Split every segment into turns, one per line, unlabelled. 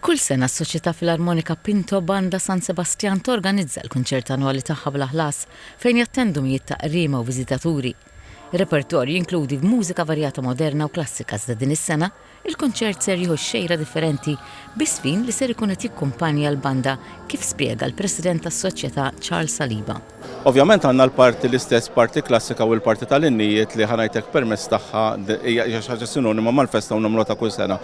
Kull sena s-Soċjetà Filarmonika Pinto Banda San Sebastian torganizza l-kunċert annwali tagħha bla ħlas fejn jattendu mijiet ta' qriema u viżitaturi. Ir-repertorju jinkludi mużika varjata moderna u klassika iżda din is-sena l-kunċert ser jieħu xejra differenti bi żfin li ser ikun qed jikkumpanja l-banda kif spjega l-President tas-Soċjetà Charles Saliba. Ovvjament għandna
l-parti l-istess parti klassika u l-parti tal-innijiet li ħanajtek permess tagħha hija xi ħaġa sinonima mal-festa u nagħmluha ta' kull sena.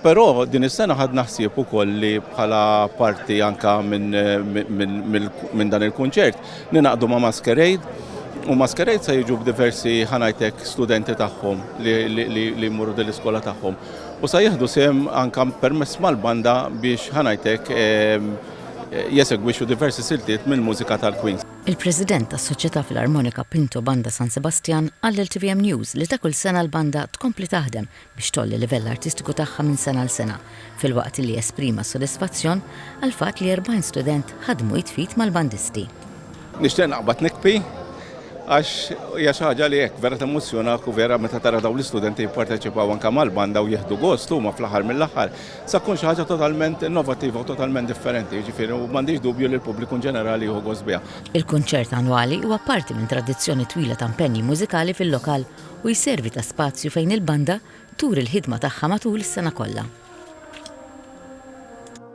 Però din is-sena ħadna ħsieb ukoll li bħala parti anke minn dan il-kunċert ninaqdu ma' Masquerade u Masquerade se jiġu b'diversi ħanajtek studenti tagħhom li jmorru din l-iskola tagħhom u se jieħdu sehem anke permess mal-banda biex ħanajtek jesegwixxu diversi siltiet mill-mużika tal-Queen. Il-President tas-Soċjetà
Filarmonika Pinto Banda San Sebastian qal lil tvm News li ta' kull sena l-banda tkompli taħdem biex tgħolli livell artistiku tagħha minn sena għal sena, filwaqt li esprima s-sodisfazzjon għall-fatt li 40 student ħadmu id f'id mal-bandisti. Nixtieq
naqbad nikbi għax hija xi ħaġa li hekk vera temmozzjonak u vera meta tara dawn l-istudenti jipparteċipaw anke mal-banda u jieħdu gost huma fl-aħħar mill-aħħar. Se tkun xi ħaġa totalment innovattiva u totalment differenti, jiġifieri, u m'għandix dubju li l-pubbliku inġenerali jieħu gost biha. Il-kunċert annwali
huwa parti minn tradizzjoni twila ta' mpenji mużikali fil-lokal u jservi ta' spazju fejn il-banda turi l-ħidma tagħha matul is-sena kollha.